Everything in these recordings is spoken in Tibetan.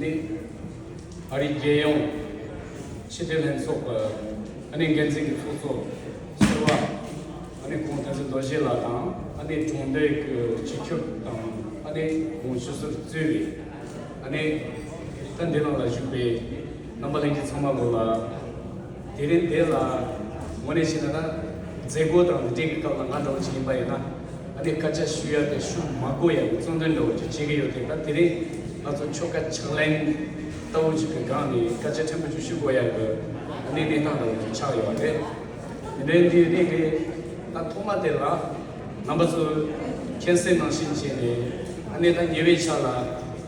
ནི། ཨ་རིའི་རྒྱལ་ཡོངས་ཕྱི་དྲིལ་ལྷན་ཚོགས་ཨ་ནེ་འགན་འཛིན་གྱི་ཚོགས་གཙོ་ཟེར་བ་ཨ་ནེ་ཁོང་བསྟན་འཛིན་རྡོ་རྗེ་ལགས་དང་ཨ་ནེའི་གྲོང་སྡེ་གི་སྤྱི་ཁྱབ་དང་ཨ་ནེ་གོང་ཞུ་སོར་བཙུད་པའི་ཨ་ནེ་ཐཱན་ཏེ་ལང་ལ་བཞུགས་པའི་རྣམ་པ་ལེན་གྱི་ཚང་མ་དགོས་ལ། དེ་རིང་དེ་ལ་ངོ་ནས་བཤད་ན་ན། མཛད་སྒོ་དང་འབྲེལ་གྱི་སྐབས་ལ་ང་འདྲ་བོ་ཅིག་ཡིན་པ་ཡིན་ན། ཨ་ནི་སྐད་ཆ་ཞུ་ཡ་དེ་ཞུ་མ་དགོས་ཡ་ནི་རྩོམ་དོན་འདྲ་བོ་ཅིག་བྱེད་ཀྱི་ཡོད་དེ་ད་དེ་རིང་ང་ཚོ་ཆོ་ག་ཕྱག་ལེན་ལྟ་བུ་ཅིག་གི་སྒང་ནས་སྐད་ཆ་ཕྲན་བུ་ཅིག་ཞུ་དགོས་ཡ་དགོས་ཨ་ནི་གནས་སྟངས་འདྲ་བོ་ཅིག་ཆགས་ཡོད་པ་རེད། དེ་འདྲའི་འདི་རིགས་ནི་ད་ཐོག་མ་དེ་ལ་རྣམ་པ་ཚོས་མཁྱེན་གསལ་ནང་བཞིན་བྱས་ནས་ཨ་ནི་ད་ཉེ་བའི་ཆ་ལ་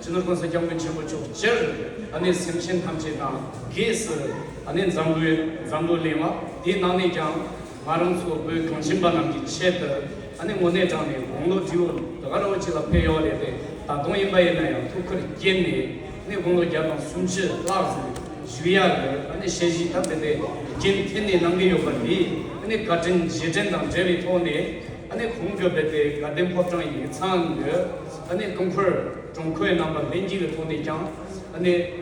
ཅི་ནུས་གང་ས་སྐྱབས་མགོན་ཆེན་པོ་མཆོག་སྤྱིར་ཨ་ནེ་སེམས་ཅན་ཐམས་ཅད་དང་གེགས་སུ་ཨ་ནེ་འཛམ་བུའི་འཛམ་བུ་གླེང་བ་དེའི་ནང་ནས་ཀྱང་ང་རང་ཚོ་བོད་གངས་ཅན་པ་རྣམས་ཀྱི་ཆེད་དུ་ཨ་ནེ་དངོས་གནས་དྲངས་ནས་དགུང་ལོ་དྲིའུ་དགའ་རོགས་གཅིག་ལ་ཕེབས་ཡོག་རེད་པས་ད་དུང་ཡིན་པ་ཡིན་ན་ཡང་ཐུགས་ཁུར་བསྐྱེད་ནས་ཨ་ནེ་དགུང་ལོ་བརྒྱ་དང་སུམ་ཅུ་ལྷག་ཙམ་བཞུགས་ཡག་དགོས་ཨ་ནེ་ཞལ་བཞི་ཐབས་རེ་པའི་རྒྱན་འཐེན་ནས་གནང་གི་ཡོད་པ་འདི་ཨ་ནེ་བཀའ་དྲིན་རྗེས་དྲན་དང་འབྲེལ་བའི་ཐོག་ནས་ཨ་ནེ་གོང་གི་བོད་པའི་དགའ་ལྡན་ཕོ་བྲང་ཡིག་ཚང་གི། ཀྲུང་ཧྥེར་གྲོང་ཁོའི་རྣམ་པ་ལྷན་སྐྱེས་ཀྱི་ཐོག་ནས་ཀྱང་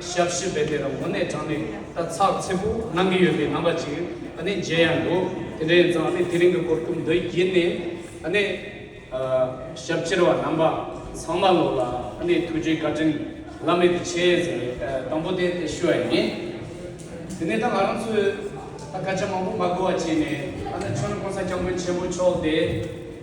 ཞབས་ཕྱི་བེད་སྤེལ་ལ་ངོ་གནས་དྲངས་ནས་ད་ཚགས་ཚེད་པོ་གནང་གི་ཡོད་པའི་རྣམ་པ་ཅིག་མཇལ་ཡ་འདུག་དེ་འདྲའི་ཡིན་ཙང་དེ་རིང་གི་སྐོར་ཐུགས་འདོད་ཡིན་ནི། ཞབས་ཕྱིར་བ་རྣམ་པ་ཚང་མ་ལོག་ལ་ཐུགས་རྗེ་བཀའ་དྲིན་བླ་མེད་དུ་ཆེ་ཟེར་བའི་དང་པོ་དེ་དེ་ཞུ་བ་ཡིན། དེ་ནས་ད་ང་རང་ཚོས་ད་སྐད་ཆ་མང་པོ་མ་གོ་བ་བྱས་ནས་ད་ནི་ཆོས་ཀུན་ས་སྐྱབས་མགོན་ཆེན་པོ་མཆོག་དེ།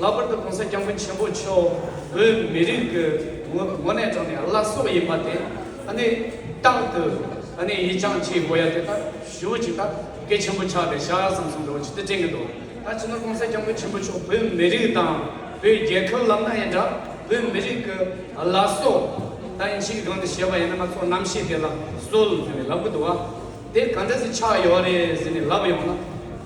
ལྷག་པར་དུ་གོང་ས་སྐྱབས་མགོན་ཆེན་པོ་མཆོག་བོད་མི་རིགས་ཀྱི་ངོ་ནས་བགྲང་ནས་བླ་སྲོག་ཡིན་པ་དེ་ནི་རྟག་ཏུ་ཡིད་ཅང་ཆེས་དགོས་ཡ་དེ་ལྟར་ཞུ་ཅིག་ད་སྐད་ཆེན་པོ་ཆགས་པས་ཤ་ར་ཙམ་ཟུང་འགྲོ་བ་ཅི་སྟེ་དྲན་གྱི་འདུག་ད་ཕྱི་ནོར་གོང་ས་སྐྱབས་མགོན་ཆེན་པོ་མཆོག་བོད་མི་རིགས་དང་བོད་རྒྱལ་ཁབ་ལབ་ན་ཡིན་འདྲ་བོད་མི་རིགས་ཀྱི་བླ་སྲོག་ད་ཡིན་ཕྱི་གི་སྒང་དུ་ཞེས་པ་ཡིན་ན་ང་ཚོ་རྣམ་ཤེས་དེ་ལ་གསོལ་ཟེར་ནས་ལབ་གི་འདུག་བ་དེ་ག་འདྲ་ཟིག་ཆགས་ཡོད་རེད་ཟེར་ནས་ལབ་ཡོང་ན།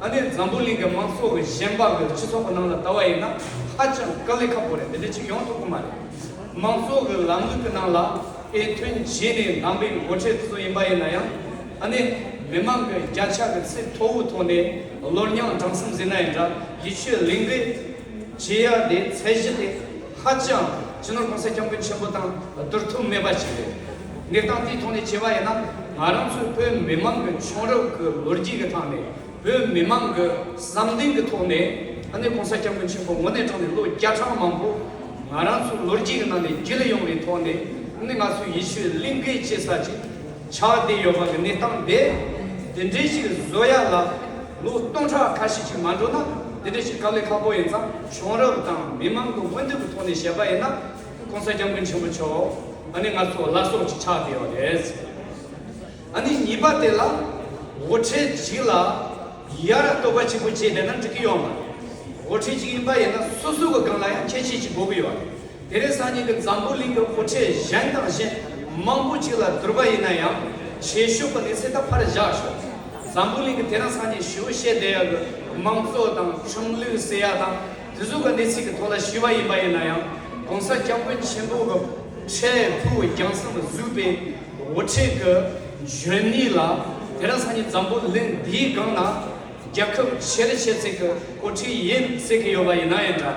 ཨ་ནེ་འཛམ་བུ་གླིང་གི་མང་ཚོགས་ཀྱི་ཞེན་པ་འོས་སྤྱི་ཚོགས་ནང་ལ་ལྟ་བ་ཡིན་ན་ཧ་ཅང་དཀའ་ལས་ཁག་པོ་རེད་འདི་འདྲ་ཅིག་ཡོང་ཐུབ་གི་མ་རེད། མང་ཚོགས་ཀྱི་ལམ་ལུགས་ཀྱི་ནང་ལ་ཨེ་མཐུན་བྱས་ནས་ལངས་པའི་མགོ་ཁྲིད་དེ་ཚོ་ཡིན་པ་ཡིན་ན་ཡང་ཨ་ནེ་མི་མང་གི་རྒྱ་ཆ་གི་ཚད་མཐོ་བོ་ཐོག་ནས་བློར་མྱངས་དྲང་སེམས་ཟིན་ན་ཡིན་འདྲ་ཡི་ཆོས་གླིང་གི་བྱེད་ཡག་དེ་ཚད་གཞི་དེ་ཧ་ཅང་སྤྱི་ནོར་གོང་ས་སྐྱབས་མགོན་ཆེན་པོ་དང་བསྡུར་ཐུབ་མེད་པ་ཞིག་རེད། གནས་སྟངས་དེའི་ཐོག་ནས་བྱས་པ་ཡིན་ན་ང་རང་ཚོའི་བོད་མི་མང་གི་མཆོང་རབ་ཀྱི་ལོ་རྒྱུས་ཀྱི་ཐང་ནས་བོད་མི་མང་གི་བསམ་གཏན་གྱི་ཐོག་ནས་ཨ་ནེ་གོང་ས་སྐྱབས་མགོན་ཆེན་པོ་ངོ་ནས་དྲངས་ནས་ལོ་བརྒྱ་གྲངས་མང་པོ་ང་རང་ཚོའི་ལོ་རྒྱུས་ཀྱི་ནང་ནས་བརྒྱུད་ལ་ཡོང་བའི་ཐོག་ནས་ཨ་ནེ་ང་ཚོའི་ཡེ་ཤུའི་གླིང་གའི་སྐྱེས་ས་ཅིག། ཆ་དེ་ཡོད་པ་གི་གནས་སྟངས་དེ་དེ་འདྲའི་ཞིག་བཟོ་ཡ་ལ་ལོ་སྟོང་ཕྲག་ཁ་ཤས་ཤིག་མ་འགྲོ་ན་དེ་འདྲའི་ཞིག་ག་ལས་ཁག་པོ་ཡིན་ཙང་གཞུང་རབས་དང་མི་མང་གི་མངོན་འདོད་ཀྱི་ཐོག་ནས་བཤད་པ་ཡིན་ན ྋགོང་ས ྋསྐྱབས་མགོན་ཆེན་པོ་མཆོག་ཨ་ནི་ང་ཚོ་བླ་སྲོག་ཅིག་ཆགས་བསྡད་ཡོད་རེད། ཨ་ནི་གཉིས་པ་དེ་ལ ྋགོ་ཁྲིད་ཅིག་ལ་ཡ་ར་བསྟོད་པ་ཆེན་པོ་བྱས་བསྡད་ན་འགྲིག་གི་ཡོད་མ་རེད། ྋགོ་ཁྲིད་ཅིག་ཡིན་པ་ཡིན་ན་སོ་སོའི་སྒང་ལ་ཡང་ཁྱད་ཆོས་ཅིག་དགོས་ཀྱི་ཡོད་རེད། དེ་རིང་སང་ཉིན་གྱི་འཛམ་བུ་གླིང་གི་འཕུར་ཁྲལ་གཞན་དང་གཞན་མང་པོ་ཅིག་ལ་བསྡུར་བ་ཡིན་ན་ཡང་བྱེད་ཤུགས་པ་ནི་སེ་ད་ཕར་བཞག་ཤོག། འཛམ་བུ་གླིང་གི་དེ་རིང་སང་ཉིན་ཞི་བུ་ཤེས་བསྡད་ཡག་གི་མང་གཙོ་དང་ཆུང་ལུགས་ཟེར་ཡག་དང་དེ་ཚོ་གི་གནས་ཚིག་གི་ཐོག་ལ་ཞི་བ་ཡིན་པ་ཡིན་ན་ཡང་གོང་ས་སྐྱབས་མགོན་ཆེན་པོ་གི་ཁྲལ་ཕུག་རྒྱང་སྲིང་དུ་བཟོས་པའི་འོ་ཁྲིད་གི་འཇོན་ནུས་ལ་དེ་རིང་སང་ཉིན་འཛམ་བུ་གླིང་འདིའི་སྒང་ན་རྒྱ་ཁབ་ཆེ་རི་ཆེ་ཚིག་གི་འོ་ཁྲིད་ཡིན་ཟེར་གི་ཡོད་པ་ཡིན་ན་ཡང་འདྲ།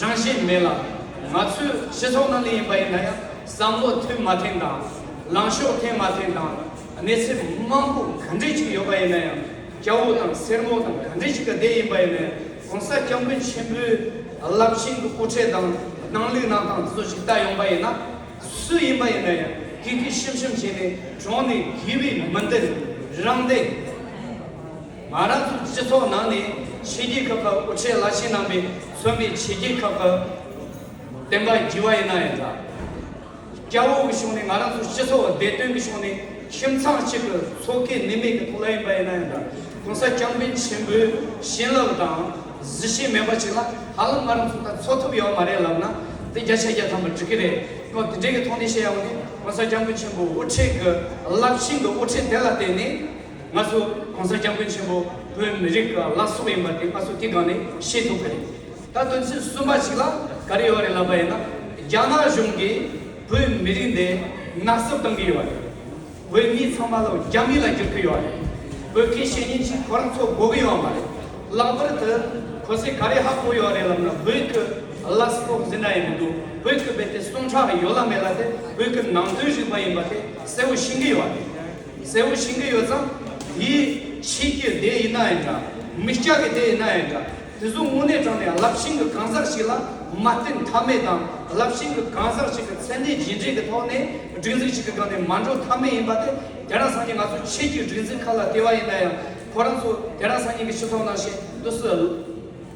རང་བཞིན་མེད་ལ། ང་ཚོའི་སྤྱི་ཚོགས་ནང་ནས་ཡིན་པ་ཡིན་ན་ཡང་བསམ་བློ་མཐུན་མ་ཐེངས་དང། ལངས་ཕྱོགས་ཐེངས་མ་ཐེངས་དང། གནས་ཚད་མང་པོ་ག་འདྲི་ཞིག་ཡོད་པ་ཡིན་ན་ཡང་སྐྱ་བོ་དང་སེར་མོ་དང་ག་འདྲི་ཞིག་ག་དེ་ཡིན་པ་ཡིན་ན་ཡང་གོང་ས་སྐྱབས་མགོན་ཆེན་པོའི་རླབས་ཆེན་གྱི་དབུ་ཁྲིད་དང་སྣང་ལུགས་གནང་སྟངས་སོགས་ཞིག་ལྟ་ཡོང་པ་ཡིན་ན། སུ་ཡིན་པ་ཡིན་ན་ཡང་གིག་གིག་ཤིམ་ཤིམ་བྱས་ནས་གྲོངས་ནས་གྱི་བའི་མི་འདི་ནི་རང་བདེ། ང་རང་ཚོའི་སྤྱི་ཚོགས་ནང་ནས་ཕྱི་རྒྱལ་ཁབ་ཁག་དབུ་ཁྲིད་བླ་ཆེན་རྣམ་པས་གསོན་པའི་ཕྱི་རྒྱལ་ཁབ་ཁག་བསྟན་པ་བགྱི་བ་ཡིན་ན་ཡང་འདྲ། སྐྱ་བོ་གི་ཕྱོགས་ནས་ང་རང་ཚོའི་སྤྱི་ཚོགས་བདེ་དོན་གྱི་ཕྱོགས་ནས་ཁྱིམ་ཚང་གཅིག་གི་ཚོགས་ཁེ་ནུས་མེད་ཀྱི་ཐོག་ལ་ཡིན་པ་ཡིན་ན་ཡང་འདྲ་གོང་ས་སྐྱབས་མགོན་ཆེན་པོའི་བྱིན་རླབས་དང་གཟི་བྱིན་མེད་པ་ཅིག་ལ་ཧ་ལམ་ང་རང་ཚོ་དང་འཚོ་ཐུབ་ཡོད་མ་རེད་ལབ་ན་དེ་བརྒྱ་ཆ་བརྒྱ་ཐམ་པ་འགྲིག་གི་རེད་ཁོང་དེ་འདྲའི་གི་ཐོག་ནས་བཤད་ཡོང་ནས་གོང་ས་སྐྱབས་མགོན་ཆེན་པོའི་དབུ་ཁྲིད་གི་རླབས་ཆེན་གི་དབུ་ཁྲིད་དེ་ལ་བརྟེན་ནས་ང་ཚོ ྋགོང་ས ྋསྐྱབས་མགོན་ཆེན་པོ་བོད་མི་རིགས་ལ་ལ་སོགས་ཡིན་པ་དེ་ང་ཚོ་དེ་སྒང་ནས་ཤེས་ཐུབ་ཀྱི་རེད། ད་དོན་ཚན་གསུམ་པ་ཞིག་ལ་ག་རེ་ཡོད་རེད་ལབ་པ་ཡིན་ན་རྒྱ་ནག་གཞུང་གིས་བོད་མི་རིགས་འདི་ནག་བསུབ་གཏང་གི་ཡོད་རེད། བོད་མི་ཚང་མ་ལོ་རྒྱ་མི་ལ་བསྒྱུར་གྱི་ཡོད་རེད། བོད་ཁའི་བཤེས་གཉེན་གྱིས་ཁོ་རང་ཚོ་དགོ་གི་ཡོད་མ་རེད། ལག་པར་དུ་གོ་ས་ག་རེ་ཧ་གོ་ཡོད་རེད་ལབ་ན་བོད་ཀྱི་ལ་ས་ཐོག་འཛིན་གྲྭ་ཡང་མི་འདུག་བོད་ཀྱི་བལ་ཏེ་སྟོང་ཕྲག་ཡོད་ལ་མེད་ལ་དེ་བོད་ཀྱི་ནང་དོན་རིག་པ་ཡིན་པ་དེ་གསལ་བོ་ཤེས་ཀྱི་ཡོད་རེད། གསལ་བོ་ཤེས་ཀྱི་ཡོད་ཙང། དེ་ཕྱིས་ཀྱི་སྡེ་ཡིན་ན་ཡང་འདྲ། མི་སྐྱ་ཀྱི་སྡེ་ཡིན་ན་ཡང་འདྲ། དེ་ཚོ་དངོས་གནས་དྲངས་ནས་རླབས་ཆེན་གྱི་གང་ཟག་ཞིག་ལ་མ་བརྟེན་ཐབས་མེད་དང་རླབས་ཆེན་གྱི་གང་ཟག་ཞིག་གི་མཚན་གནས་རྗེས་འབྲེལ་གྱི་ཐོག་ནས་སྒྲིག་འཛུགས་ཞིག་གི་སྒང་ནས་མ་འགྲོ་ཐབས་མེད་ཡིན་པ་དེ་དེ་རང་སང་ཉིན་ང་ཚོ་ཕྱིས་ཀྱི་སྒྲིག་འཛིན་ཁག་ལ་ལྟོས་བ་ཡིན་ན་ཡང་ཁོ་རང་ཚོ་དེ་རང་སང་ཉིན་གྱི་ཕྱི་ཐོག་ནང་བཞིན་དུ་སུ་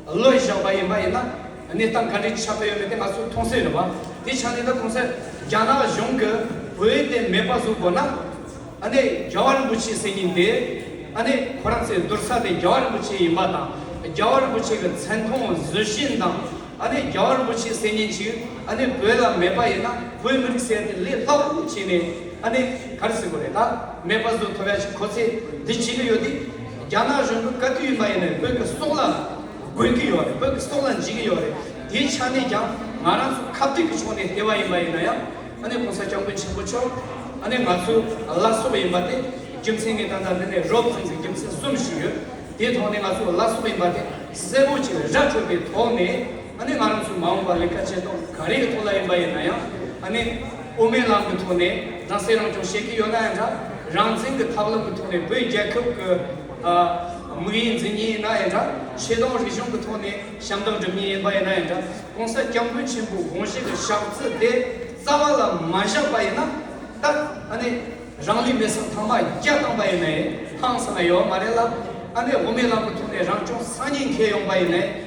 བློས་བཞག་པ་ཡིན་པ་ཡིན་ན་གནས་སྟངས་ག་འདྲའི་ཆགས་ཀྱི་ཡོད་མེད་དེ་ང་ཚོས་མཐོང་གསལ་རེད་བ། དེའི་ཆ་ནས་ད་གོང་གསལ་རྒྱ་ནག་གཞུང་གིས་བོད་དེ་མེད་པ་བཟོ་དགོས་ན། ཨ་ནེ་རྒྱལ་བ་རིན་པོ་ཆེ་ཟེར་ཉིན་དེ་ཨ་ནེ་ཁོ་རང་ཚའི་བསྡུར་ས་དེ་རྒྱལ་བ་རིན་པོ་ཆེ་ཡིན་པ་དང་རྒྱལ་བ་རིན་པོ་ཆེ་གི་མཚན་མཐོང་བཟོད་བཞིན་དང་ཨ་ནེ་རྒྱལ་བ་རིན་པོ་ཆེ་ཟེར་ཉིན་ཅིག་ཨ་ནེ་བོད་ལ་མེད་པ་ཡིན་ན་བོད་མི་རིགས་ཟེར་ཡ་དེ་ལས་ལྷག་རུ་བྱས་ནས་ཨ་ནེ་ག་རེ་ཟེར་དགོས་རེད་ད། མེད་པ་བཟོ་ཐུབ་ཡག་ཞིག་ཁོ་ཚེ་འདི་བྱེད་གི་ཡོད་དེ། རྒྱ་ནག་གཞུང་གི་བཀའ་བསྡུས་ཡིན་པ་ཡིན་ནའི་བོད་ཀྱི་སྲོག་ལ་རྒོལ་གི་ཡོད་རེད་བོད་ཀྱི་སྲོག་ལ་འཇིགས་གི་ཡོད་རེད་དེའི་ཆ་ནས་ཀྱང་ང་རང་ཚོ་ཁ་བསྡུས་ཀྱི་ཕྱོགས་ནས་ལྟེ་བ་ཡིན་པ་ཡིན་ན་ཡང་ཨ་ནེ་གོང་ས་སྐྱབས་མགོན་ཆེན་པོ་མཆོག་ཨ་ནེ་ང་ཚོའི་བླ་སྲོག་ཡིན་པ་དེ་རྒྱུ་མཚན་ངའི་ད་ལྟ་འདི་ནས་རོབ་བྱུང་གི་རྒྱུ་མཚན་གསུམ་ཞིག་ཡོད་དེའི་ཐོག་ནས་ང་ཚོའི་བླ་སྲོག་ཡིན་པ་དེ་གསལ་བོ་ཅིག་ར་འཕྲོད་པའི་ཐོག་ནས། ཨ་ནི་ང་རང་ཚོས་མ་འོངས་པར་ལས་ཀ་བྱེད་སྟངས་ག་རེའི་ཐོག་ལ་ཡིན་པ་ཡིན་ན་ཡང་ཨ་ནི་དབུ་མའི་ལམ་གྱི་ཐོག་ནས་རང་སྲེག་རང་སྐྱོང་བྱེད་ཀྱི་ཡོད་ན་ཡང་འདྲ། རང་བཙན་གྱི་ཐབས་ལམ་གྱི་ཐོག་ནས་བོད་རྒྱལ་ཁབ་ཀྱི་དམིགས་ཡུལ་འཛིན་ངེས་ཡིན་ན་ཡང་འདྲ། ཆེ་མཐོང་རིག་གཞུང་གྱི་ཐོག་ནས་ཞབས་འདེགས་སྒྲུབ་ངེས་ཡིན་པ་ཡིན་ན་ཡང་འདྲ། གོང་ས་སྐྱབས་མགོན་ཆེན་པོའི་དགོངས་བཞེད་ཀྱི་ཞག་རྩི་དེ་རྩ་བ་ལ་མ་བཞག་པ་ཡིན་ན། ཏག་ཨ་ནི་རང་ལུས་མེ་སྲེག་ཐང་མ་བརྒྱ་བཏང་པ་ཡིན་ནའི་ཧང་སང་ཡོད་མ་རེད་ལ། ཨ་ནི་དབུ་མའི་ལམ་གྱི་ཐོག་ནས་རང་སྐྱོང་སང་ཉིན་འཁེལ་ཡོང་པ་ཡིན་ནའི་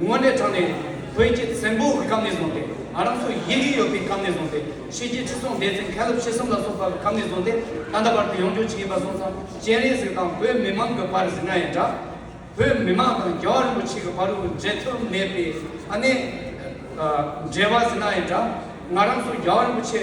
དངོས་གནས་དྲང་ནས་བོད་ཀྱི་བཙན་པོའི་སྐབས་ནས་བཟུང་སྟེ་ང་རང་ཚོ་ཡིད་ཀྱི་ཡོད་པའི་སྐབས་ནས་བཟུང་སྟེ་ཕྱི་རྒྱལ་ཁྲི་སྲོང་ལྡེ་བཙན་མཁན་སློབ་ཆེ་གསུམ་ལ་སོགས་པ་སྐབས་ནས་བཟུང་སྟེ་ད་ལྟ་བར་དུ་ཡོངས་སྐྱོང་བྱེད་ཀྱིན་པ་སོགས་ཙམ་སྤྱན་རས་གཟིགས་དང་བོད་མི་མང་གི་བར་ཟིང་ན་ཡང་འདྲ། བོད་མི་མང་དང་རྒྱལ་བ་རིན་པོ་ཆེ་གི་བར་དབུ་འབྱེད་ཐུབ་མེད་པའི་ཨ་ནེ། འབྲེལ་བ་ཟིང་ན་ཡང་འདྲ། ང་རང་ཚོ་རྒྱལ་བ་རིན་པོ་ཆེ།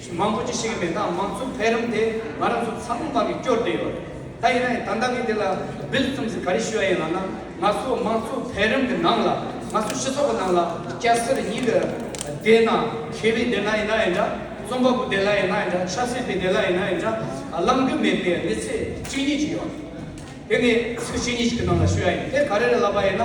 ཆུ་མང་པོ་ཅི་ཞིག་མེད་ན་མང་ཚུགས་འཕེལ་རིམ་དེ་ང་རང་ཚོ་ཚ་མོ་མ་གི་སྐྱོར་དེ་ཡོད། ད་ཡིན་ནའི་ད་ལྟ་གི་འདི་ལ་བིལ་བཙུམས་སི་ག་རི་ཞུ་ཡ་ཡིན་ལགས་ན་ང་ཚོ་མང་ཚུགས་འཕེལ་རིམ་གི་ནང་ལ་ང་ཚོ་སྤྱི་ཚོགས་གི་ནང་ལ་སྐྱ་སེར་གཉིས་ཀྱི་སྡེ་ན་ཁེ་བའི་སྡེ་ན་ཡིན་ན་ཡིན་འདྲ་རྩོམ་པ་པོ་སྡེ་ལ་ཡིན་ན་ཡིན་འདྲ་ཆབ་སྲིད་པའི་སྡེ་ལ་ཡིན་ན་ཡིན་འདྲ་བླང་རྒྱུ་མེད་པའི་གནས་ཚད་གཅིག་གཉིས་ཅིག་ཡོད། དེ་ནི་ཚིག་གཅིག་གཉིས་ཅིག་གི་ནང་ལ་ཞུ་ཡ་ཡིན་དེ་ག་རེ་རེད་ལབ་པ་ཡིན་ན།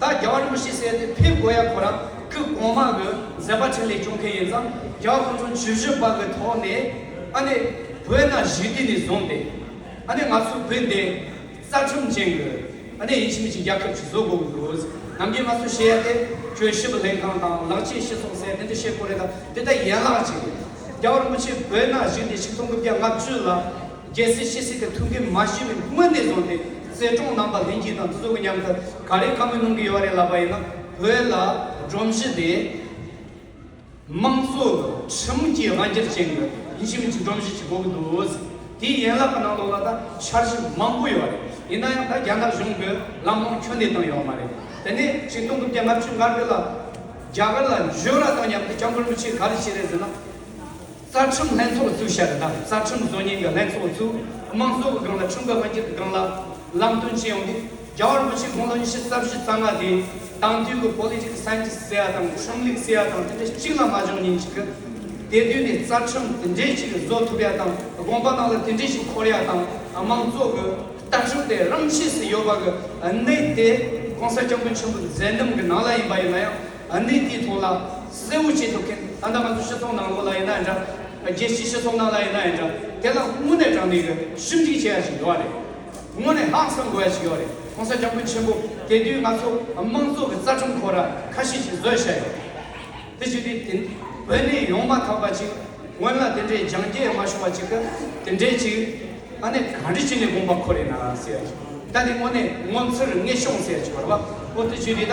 ད་རྒྱ་བ་རིན་པོ་ཆེ་བསད་དེ་ཕེབས་དགོས་ཡ་གོ་རང་ཁི་གོང་མ་གི་མཛད་པ་ཕྲིན་ལས་སྐྱོང་མཁན་ཡིན་ཙང་རྒྱ་བ་ཁོང་ཚོ་ཇུས་བཞི་པ་གི་ཐོག་ནས་ཨ་ནེ་བོད་ན་གཞིས་དུས་ནས་བཟུང་སྟེ་ཨ་ནེ་ང་ཚོ་བོད་འདི་རྩ་ཁྲིམས་ཅན་གི་ཨ་ནེ་ཡིན་ཕྱི་མི་ཆིང་རྒྱལ་ཁབ་ཀྱི་བཟོ་དགོས་གི་འདུག་ནམ་རྒྱུན་ང་ཚོ་ཤེས་ཡ་དེ་ཁྱོད་ཤི་བ་ལྷན་ཁང་དང་ལག་ཆས་ཤི་སོང་ཟེར་དེ་འདྲ་བཤད་གོ་རེ་ད་དེ་ལྟ་ཡན་ལག་ཅིག་རེད་རྒྱ་བ་རིན་པོ་ཆེ་བོད་ན་གཞིས་དུས་ཆིག་སྟོང་དགུ་བརྒྱ་ལྔ་བཅུ་ལ། རྒྱལ་སྲིད་ཕྱི་སྲིད་ཀྱི་མཐུན་རྐྱེན་མ་ཤེས་པའི་སྔོན་ནས་བཟུང་སྟེ་གསལ་སྒྲོང་གནང་པ་ལྷན་གྱིས་དང་སུ་གི་མཉམ་དུ་ག་རེ་གང་གི་གནང་གི་ཡོད་རེད་ལབ་པ་ཡིན་ན་བོད་ལ་སྒྲོམ་གཞི་དེ་དམངས་གཙོ་ཁྲིམས་མི་གྱི་དབང་སྒྱུར་ཅན་གྱི་ཡིན་གཤིས་མིན་གྱི་སྒྲོམ་གཞི་ཞིག་གོ་གི་འདུག་དེའི་ཡན་ལག་གི་ནང་དོག་ལ་ད་འཆར་གཞི་མང་པོ་ཡོད་རེད་ཡིན་ན་ཡང་ད་རྒྱ་ནག་གཞུང་གི་ལམ་ལྷོང་ཁྱོན་ནས་བཏང་ཡོད་མ་རེད་དེ་ནས་ཆིག་སྟོང་དགུ་བརྒྱ་ལྔ་བཅུ་ལྔ་དགུ་ལ་རྒྱ་གར་ལ་འབྱོར་ར་དང་མཉམ་དུ་སྐྱབས་མགོན་རིན་པོ་ཆེ་ག་རེ་བྱས་རེད་ཟེར་ན། རྩ་ཁྲིམས་ལྷན་ཚོགས་བཙུགས་ཤར་དང་རྩ་ཁྲིམས་བཟོ་ཉན་གྱི་ལྷན་ཚོགས་བཙུགས་དམངས་གཙོ་གི་སྒང་ལ་ཁྲིམས་འགལ་དབང་སྒྱུར་གྱི་སྒང་ལ་ལམ་སྟོན་བྱེད་ཡོང་དུས་རྒྱ་བལ་མི་ཆེན་དགུང་ལོ་ཉི་ཤུ་རྩ་བཞི་རྩ་ལྔ་དེས་དང་དུས་ཀྱི Political Scientist ཟེར་ཡ་དང་ཁྲིམས་ལུགས་ཟེར་ཡ་དང་དེ་འདྲ་གཅིག་ལ་མ་འཇོག་ཉིན་ཞིག་གི་དེ་དུས་ནས་རྩ་ཁྲིམས་དེ་འདྲས་ཅིག་བཟོ་ཐུབ་ཡ་དང་དགོངས་པ་རྣམས་ལ་དེ་འདྲས་ཤིག་འཁོར་ཡ་དང་དམངས་གཙོ་གི་ལྟ་གྲུབ་དེ་རང་ཆས་སུ་ཡོད་པ་གི་གནད་དེ ྋགོང་ས་སྐྱབས་མགོན་ཆེན་པོ་མཛད་འདམ་གི་ནང་ལ་ཡིན་པ་ཡིན་ན་ཡང། ཨ་ནི་དེའི་ཐོག་ལ་གསལ་བོ་བྱེད་ཐུབ་མཁན་ད་ལྟ་ང་ཚོ་སྤྱི་ཚོགས་ནང་ལོགས་ལ་ཡིན་ན་ཡིན་འདྲ། རྒྱལ་སྤྱིའི་སྤྱི་ཚོགས་ནང་ལ་ཡིན་ན་ཡིན་འདྲ་དེ་ལ་དངོས་གནས་དྲང་བདེན་ཡོད་ཞིབ་འབྲི་བྱེད་ཡ་ཞིག་ཡོད་རེད། དངོས་གནས་ཧང་སང་དགོས་ཡ་ཞིག་ཡོད་རེད་གོང་ས་སྐྱབས་ཀུན་ཆེན་པོ་དེ་དུས་ང་ཚོ་དམངས་གཙོ་གི་རྩ་ཁྲིམས་ཁོ་ར་ཁ་ཤས་ཤིག་བཟོས་བཞག་ཡོད་རེད། དེ་བྱས་དུས་བོད་ནས་ཡོང་མ་ཐག་པ་ཅིག་སྔོན་ལ་དེ་འདྲའི་འཇང་རྒྱས་མ་བྱུང་བ་ཅིག་གི་དེ་འདྲའི་ཅིག་ཨ་ནི་ག་འདྲི་བྱས་ནས་དགོངས་པ་ཁོ་རེད་ན་ཟེར་ཡ་ཞིག་ད་དེ་དངོས་གནས་ངོ་མཚར་ངེས་ཤོང་ཟེར་ཡ་ཞིག་ཡོད་རེད་བ་ཨོ་དེ་བྱས་དུས་ད།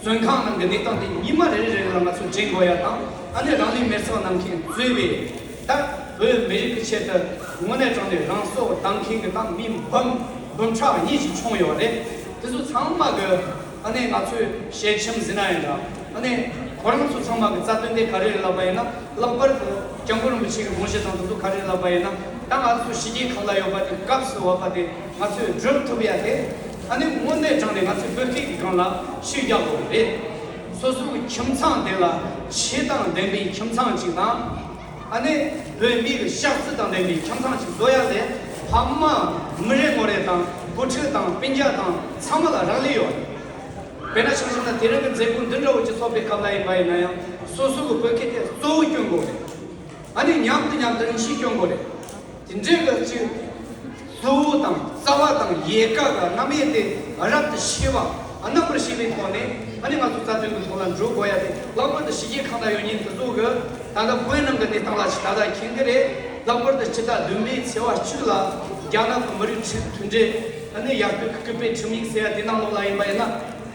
བཙོན་ཁང་ནང་གི་གནས་སྟངས་དེ་ཉིན་མ་རེ་རེ་ལ་ང་ཚོས་དྲན་དགོས་ཡ་དང་ཨ་ནེ་རང་ལུས་མེར་ཚང་གནང་མཁན་གཙོས་པའི་ད་བོད་མི་རིགས་ཀྱི་ཆེད་དུ་དངོས་གནས་དྲང་ནས་རང་སྲོག་བཏང་མཁན་གྱི་ནང་མི་འབུམ་འབུམ་ཕྲག་གཉིས་ཤིག་མཆོངས་ཡོད་པ་རེད་དེ་ཚོ་ཚང་མ་གི་ཨ་ནེ་ང་ཚོས་ཞལ་ཆེམས་གཟིགས་ན་ཡང་འདྲ་ཨ་ནེ་ཁོ་རང་ཚོ་ཚང་མ་གི་རྩ་དོན་དེ་ག་རེ་རེད་ལབ་པ་ཡིན་ན་ལྷག་པར་དུ་སྐྱབས་མགོན་རིན་པོ་ཆེ་གི་དགོངས་བཞེད་དང་དེ་ཚོ་ག་རེ་རེད་ལབ་པ་ཡིན་ན་ད་ང་ཚོ་ཞི་རྒྱལ་ཁབ་ལ་ཡོད་པ་དེ་སྐབས་སུ་བབ་པ་དེ་ང་ཚོས་བསྒྲུབ་ཐུབ་ཡ་དེ། ད་ནི་དངོས་གནས་དྲང་ནས་ང་ཚོའི་བོད་སྐད་ཀྱི་སྒང་ལ་ཤུལ་རྒྱག་དགོས་པ་རེད། སོ་སོའི་ཁྱིམ་ཚང་དེ་ལ་ཆེ་དང་ལྡན་པའི་ཁྱིམ་ཚང་ཅིག་དང། ད་ནི་བོད་མིའི་གཤག་རྩི་དང་ལྡན་པའི་ཁྱིམ་ཚང་ཅིག་བཟོ་ཡ་ལས་ཕ་མ་མི་རེ་ངོ་རེ་དང་བུ་ཕྲུག་དང་སྤུན་རྒྱ་དང་ཚང་མ་ལ་རག་ལས་ཡོད། དཔེར་ན་ཆང་བཞིན་ན་དེ་རིང་གི་མཛད་སྒོ་འདི་འདྲ་བོ་ཅིག་ཚོགས་པའི་སྐབས་ལ་ཡིན་པ་ཡིན་ན་ཡང་སོ་སོའི་བོད་སྐད་དེ་གཙོ་བོ་སྐྱོན་དགོས་རེད། ད་ནི་མཉམ་དུ་མཉམ་དུ་རིང་ཞིག་སྐྱོན་དགོས་རེད། དེ་འདྲའི་སྐབས་ཀྱི་ལྷ་བུ་དང་རྩ་བ་དང་ཡལ་ག་དང་རྣམ་དབྱེ་དེ་རབ་ཏུ་ཕྱེ་བ་རྣམ་པར་ཤེས་པའི་ཐོག་ནས་ད་ནི་ང་ཚོ་རྩ་དོན་གྱི་ཐོག་ལ་འགྲོ་དགོས་ཡ་དེ་ལྷག་པར་དུ་ཕྱི་རྒྱལ་གང་དག་ཡོད་ཉིན་དེ་ཚོ་གི་ད་ལྟ་བོད་ནང་གི་གནས་སྟངས་ལ་ཕྱི་ད་ལྟ་མཁྱེན་གྱི་རེད་ལྷག་པར་དུ་ཕྱི་ཟླ་བདུན་པའི་ཚེས་བ་བཅུ་ལ་རྒྱ་ནག་གི་མི་རིགས་ཁྲིམས་མཐུན་འབྲེལ་ནི་ཡར་སྐུལ་གྱི་སྐུལ་སྤེལ་ཁྲིམས་ཡིག་ཟེར་ཡ་དེ་ནང་ལོགས་ལ་ཡིན་པ་ཡིན་ན།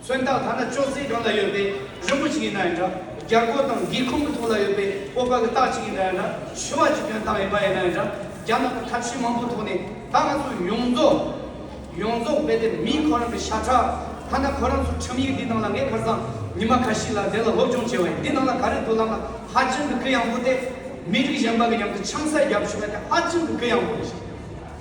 མཚོན་རྟགས་ཐ་ན་ཅོག་ཙེའི་སྒང་ལ་ཡོད་པའི་རི་མོ་ཅིག་ཡིན་ན་ཡང་འདྲ། རྒྱ་སྒོ་དང་སྒེའུ་ཁུང་གི་ཐོག་ལ་ཡོད་པའི་སྤོབས་པ་གི་རྟགས་ཅིག་ཡིན་ན་ཡང་འདྲ། ཞི་བ་ཅིག་གྱོན་སྟངས་ཡིན་པ་ཡིན་ན་ཡང་འདྲ། རྒྱ་ནག་གི་ཐབས་ཤེས་མང་པོའི་ཐོག་ནས་ད་ང་ཚོ་ཡོངས་རྫོགས། ཡོངས་རྫོགས་རྦད་དེ་མིན་ཁོ་རང་གི་ཤ་ཁྲག། ཐ་ན་ཁོ་རང་ཚོའི་ཁྲིམས་ཡིག་འདིའི་ནང་ལ་ངས་ཁར་སང་ཉི་མ་ཁ་ཤས་ལ་དེ་ལ་སློབ་སྦྱོང་བྱས་བ་ཡིན་འདི་ནང་ལ་ག་རེ་འདུག་ལབ་ན་ཧ་ཅང་གི་ཀི་ཡང་པོ་སྟེ། མི་རིགས་གཞན་པ་གི་མཉམ་དུ་ཆང་ས་རྒྱབ་ཆོག་པ་དེ་ཧ་ཅང་གི་ཀི་ཡང་པོ་རེད།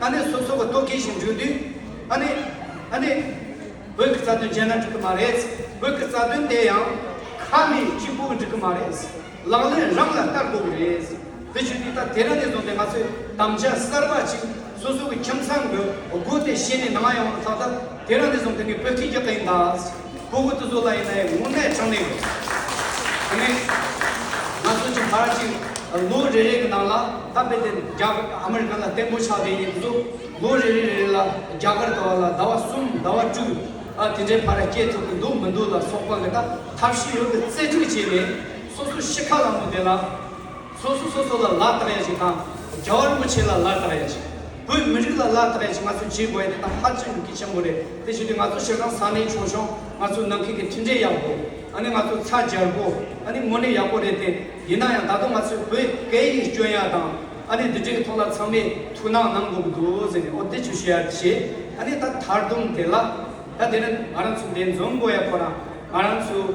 ཨ་ནེ་སོ་སོ་གི་ལྟོ་གོས་ཤིག་འབྲུ་དུས། ཨ་ནེ། ཨ་ནེ། བོད་ཀྱི་རྩ་དོན་བརྗེད་ན་འགྲིག་གི་མ་རེད། བོད་ཀྱི་རྩ་དོན་དེ་ཡང། ཁ་ནས་གཅིག་པུ་འགྲིག་གི་མ་རེད། ལག་ལེན་རང་ལ་བསྟར་དགོས་གི་རེད། དེ་བྱུས་དུས་ད་དེ་རིང་ནས་བཟུང་སྟེ་ང་ཚོས་དམ་བཅའ་གསར་པ་གཅིག་སོ་སོ་གི་ཁྱིམ་ཚང་གི་སྒོ་དེ་ཕྱེས་ནས་ནང་ཡོང་བར་ཚགས་ཚགས་དེ་རིང་ནས་བཟུང་དེ་ནི་བོད་ཁྱིམ་གྱི་སྟེང་དང། བོད་ཁུལ་དུ་སུ་ལ་ཡིན་ན་ཡང་དངོས་གནས་དྲང་གནས་ཡོད། དེ་ནི། ང་ཚོ་ཆུ་བར་གཅིག་ལོ་རེ་རེ་གི་ནང་ལ་ད་དཔེ་དེ་རྒྱ་ཨ་མི་རི་ཀ་ལ་བརྟན་པོ་ཆགས་བསྡད་ཡིན་དུས་སུ་ལོ་རེ་རེ་རེ་རེ་ལ་རྒྱ་གར་དུ་བ་ལ་ཟླ་བ་གསུམ་ཟླ་བ་དྲུག་ཨ་དེ་འདྲའི་བར་ར་སྐྱེལ་ཐུབ་ཀྱི་འདུག་མི་འདུག་ལ་སོགས་པ་འགའ་ད་ཐབས་ཤེས་ཡོད་པའི་རྩལ་སྤྲུགས་བྱས་ནས་སོ་སོ་ཤི་ཁ་ལ་མོ་དེ་ལ། སོ་སོ་སོ་སོ་ལ་ལག་བསྟར་ཡ་ཅིག་དང་རྒྱ་བ་རིན་པོ་ཆེ་ལ་ལག་བསྟར་ཡ་ཅིག་བོད་མི་རིགས་ལ་ལག་བསྟར་ཡ་ཅིག་ང་ཚོས་བྱེད་དགོས་ཡ་དེ་དང་ཧ་ཅང་གི་གལ་ཆེན་པོ་རེད་དེ་བཞིན་དུ་ང་ཚོ་ཞེ་སྡང་ས་གནས་ཆུང་ཆུང་ང་ཚོས་ནང་ཁུལ་གྱི་མཐུན་འབྲེལ་ཡག་པོ་ཨ་ནི་ང་ཚོ་ཚ་རྒྱར་པོ་ཨ་ནི་དངོས་གནས་ཡག་པོ་རེད་དེ་ཡིན་ན་ཡང་ད་དུང་ང་ཚོས་བོད་སྐད་ཡིག་སྐྱོན་ཡ་དང་ཨ་ནི་འདི་འདྲའི་ཐོག་ལ་ཚང་མས་ཐུགས་སྣང་གནང་དགོས་ཀྱི་འདུག་ཟེར་ནས་ཨོ་དེ་ཆུ་བཤད་ཡ་བྱས་ཨ་ནི་ད་དར་དུམ་དེ་ལ་ད་དེ་ནི་ང་རང་ཚོ་འདས་འཛོམས་དགོས་ཡ་ཁོ་རང་ང་རང་ཚོའི།